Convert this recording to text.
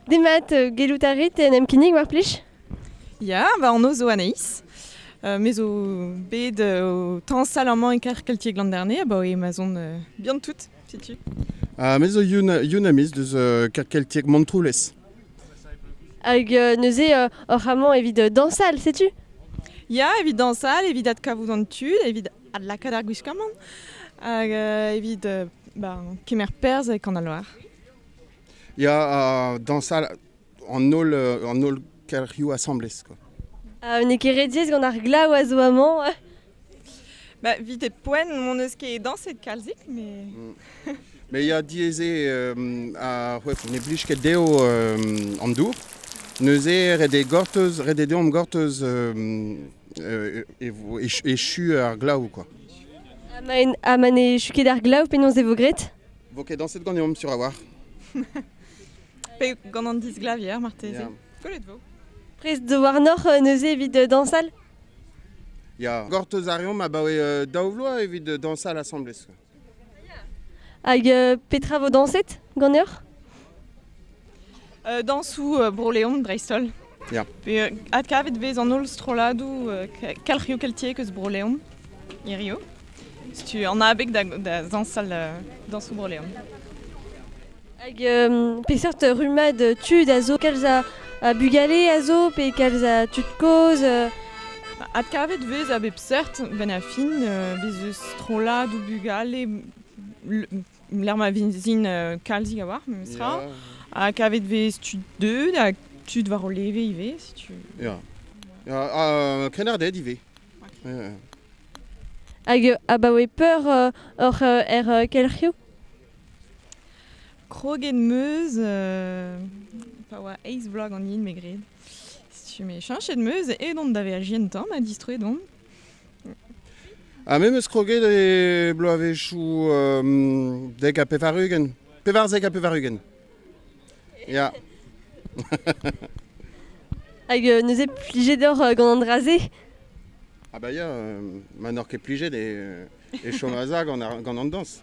Demat, euh, gellout a rit en em kinnig war plij? Ya, va anv zo Anaïs. Uh, me zo bet uh, o tañsal amañ e kar Keltieg Landerne, abaoe ma zon uh, bihan tout, setu. Uh, me zo Yun, Yun Amiz deus uh, kar Keltieg Montroulez. Hag uh, neuze uh, oc'h amañ evit uh, dañsal, setu? Ya, evit dañsal, evit adkavout an tud, evit adlakaat ar gwiskamant, hag uh, evit uh, ba, kemer perzh e Kanaloar. Ya, dañsal an holl, an holl kelc'hioù asambles. Quoi. Ah, N'eo ket ret gant ar glav a zo amañ. Bah, vite poen, mon eus ket dañset kalzik, mais... Mm. Mais il y a dieze euh, a ouais, ne blij ket dezho euh, an dour. Neuze ret e gorteuz, ret e deomp gorteuz euh, euh, echu ar glav quoi. Ha ma ne echu ket ar glav, penaos e vo graet? Vo ket dañset ganeomp sur a-walc'h. Pe gant an disglavier, marteze. Yeah. Kollet vo. Prest de warnoc'h euh, neuze evit euh, dansal Ya, gortoz a reomp abaoe euh, daou vloaz evit euh, dansal asambles. Hag euh, petra vo dañset ganeoc'h dañsoù Bro-Leon, Breizh-Holl. Ya. Pe adkavet vez an holl strolladoù kelc'hioù keltiek eus Bro-Leon hirio. Setu an abeg da, da zañsal dañsoù Bro-Leon. Hag euh, peseurt rummad tud a zo kalz a, a bugale a zo pe kalz a tud kozh euh? Adkavet vez a bep seurt, benn a fin, euh, bez eus strollad ou bugale lec'h ma vizin euh, kalzik a-walc'h, memestra. Ha kavet vez tud deuet ha tud war o leve ivez, si tu veux. Ya. Ha krennarded ivez. Hag euh, abaoe peur euh, oc'h er kelc'hioù? Kroget meuz, pa oa eiz vloaz ganin me gred. Si tu me chanchet meuz, edon da verjien tan ha distroet on. Ha me 'meus kroget e bloavezhioù dek ha pevar-ugent. Pevarzek ha pevar-ugent. Ya. Hag euh, nous êtes pliés d'or euh, gant an dra-se Ah bah ya, euh, ma n'or ket plijet e, e chom a gant, gant an dañs.